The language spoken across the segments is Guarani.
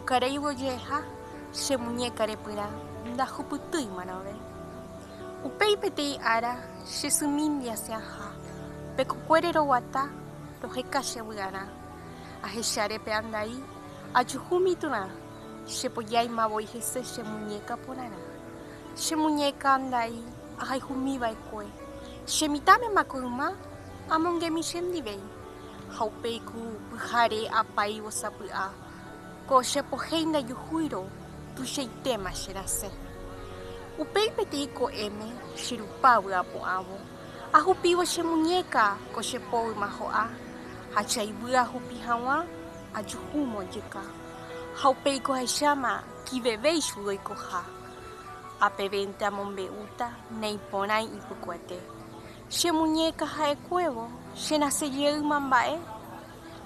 Okareívo jeheha che muñéka repyrã ndahupytýi marãve. Upéi peteĩ ára che symíndi asẽaha, pe kokuére roguata roheka che vy'arã. Ahecháre pe andai, ajuhu mityrã, chepojáima voi hese che muñéka porãrã. Che muñéka andai ahayhumi va'ekue, che mitãmema ko yma amongemi chendive. Ha upéi ku pyhare apáivo sapy'a. Ko che pohei ndajuhúirõ tuichaitéma che rasẽ. Upéi peteĩ ko'ẽme che rupa vy'apo'ãvo, ahupívo che muñéka ko che po yma ho'a, ha che ayvy ahupi haguã ajuhu mojyka. Ha upéi ko ahecháma kivevéichu ndoikoha. Ha pevénte amombe'úta neĩporãi ipykuete. Che muñéka ha'ekuévo che rasẽ jeýma mba'e.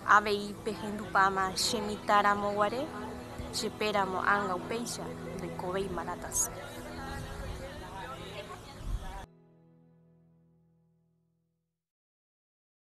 Avei pehundupáma che mitã ramo guare, che pe ramo ánga upéicha ndoikovéi maratãse.